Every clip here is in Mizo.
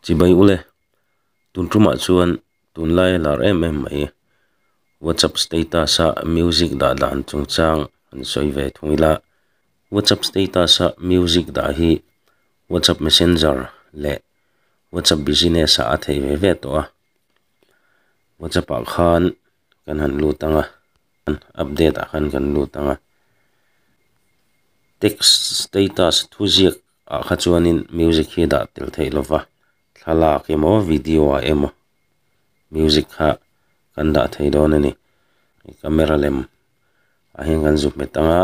Chi mai u le, tun tumah chuan tunlai a lar em em mai. WhatsApp status ah music dah dan chungchang an sawi ve thung ila, WhatsApp status ah music dah hi WhatsApp Messenger leh WhatsApp Business ah a thei ve ve tawh a. WhatsApp ah khan kan han lut ang a, update ah khan kan lut ang a. Text status thu ziak ah kha chuanin music hi dah tel theih lo va, thlalak emaw video ah emaw music kha kan dah thei dawn a ni, hei camera lem ah hian kan zuk hmet ang a,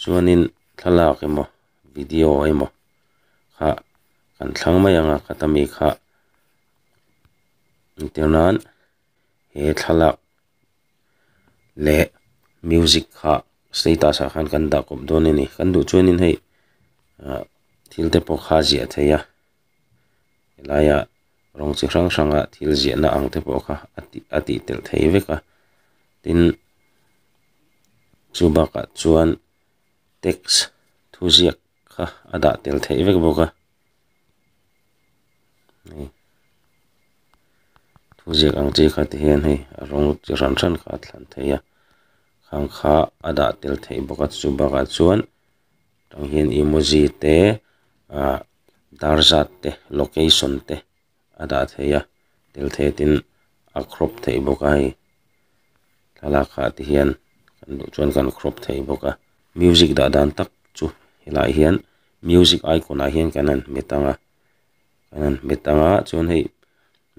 chuanin thlalak emaw video emaw kha kan thlang mai ang a, khata mi kha entir nan he thlalak. leh music kha status ah khan kan dah kawp dawn a ni kan duh chuan in hei ah thil te pawh kha ziah theih a helai ah rawng chi hrang hrang a thil ziah na ang te pawh kha a ti a tih tel thei vek a tin chu bakah chuan text thuziak-- kha a dah tel theih vek bawk a, hei thu ziak ang chi kha ti hian hei a rawng chi hran hran kha a thlan thei a, khang kha a dah tel thei bawk a chu bakah chuan hetiang hian emoji te ahh dar zat te location te-- a dah theih a, tel thei tin a crop theih bawk a hei thlalak kha ti hian kan duh chuan kan crop theih bawk a music dah dan tak chu helai hian music icon ah hian kan han hmet ang a kan han hmet ang a chuan hei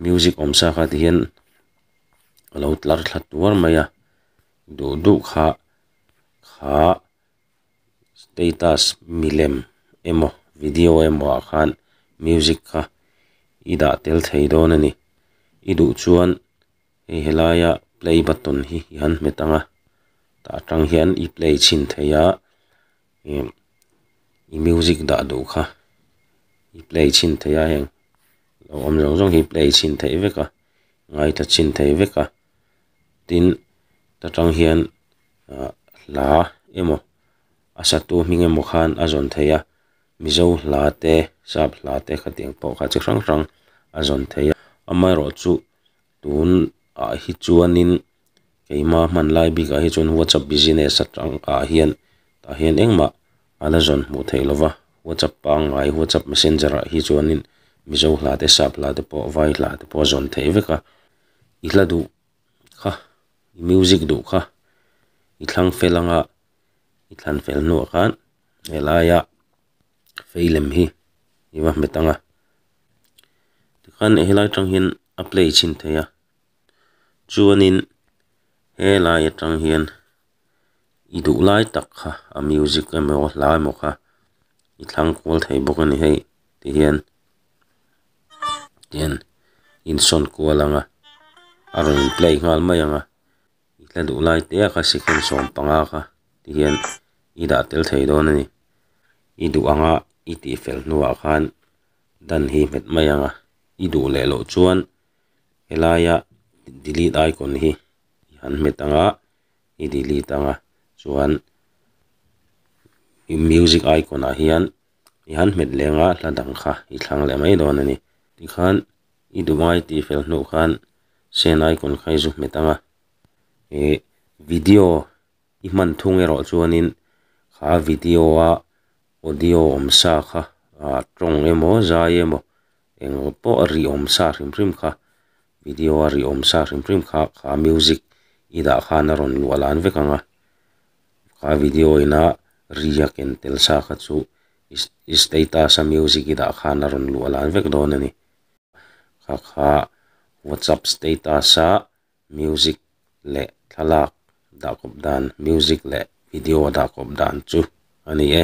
music awm sa kha ti hian a lo tlar thla tuar mai a duh duh kha kha-- status milem emaw video emaw ah khan music kha i dah tel thei dawn a ni i duh chuan hei helai a play button hi i han hmet ang a tah atang hian i play chhin thei a em i music dah duh kha i play chhin thei a heng lo awm zawng zawng hi i play chhin theih vek a ngaihta chhin theih vek a. tin ta tang hian ah hla emaw a satu hming emaw khan a zawn thei a mizo hla te sap hla te khatiang pawh kha chi hrang hrang a zawn thei a amaherawh chu tun ah hi chuanin keima hmanlai bik ah hi chuan whatsapp business atang ah hian tah hian engmah a la zawn hmuh theih lova whatsapp pangngai whatsapp messenger ah hi chuanin mizo hla te sap hla te pawh vai hla te pawh a zawn thei vek a. I hla duh kha, i music duh kha, i thlang fel anga i thlan fel hnuah khan helaia fei lem hi i va hmet ang a. Tikhan helai atang hian a play chhin thei a, chuanin helai atang hian. i duh lai tak kha a music emaw a hla emaw kha i thlang kual thei bawk a ni hei tihian tihian insawn kual ang a a rawn in play nghal mai ang a i hla duh lai te a kha second sawm panga kha tihian i dah tel thei dawn a ni i duh ang a i tih fel hnuah khan dan hi nghet mai ang a i duh leh loh chuan helaia delete icon hi i han nghet ang a. i delete ang a, chuan music icon ah hian i han hmet leng a hla dang kha i thlang leh mai dawn a ni. Tikhan i duhmai tih fel hnuh khan send icon kha i zu hmet ang a, ih video i hman thung erawh chuanin kha video a audio awm sa kha tawng emaw zai emaw englo pawh a ri awm sa hrim hrim kha video a ri awm sa hrim hrim kha kha music i dah khan a rawn luah lan vek ang a kha video ina ri a ken tel sa kha chu ih status a music i dah khan a rawn luah lan vek dawn a ni kha kha whatsapp status a music leh thlalak dah khawp dan music leh video a dah khawp dan chu a ni e.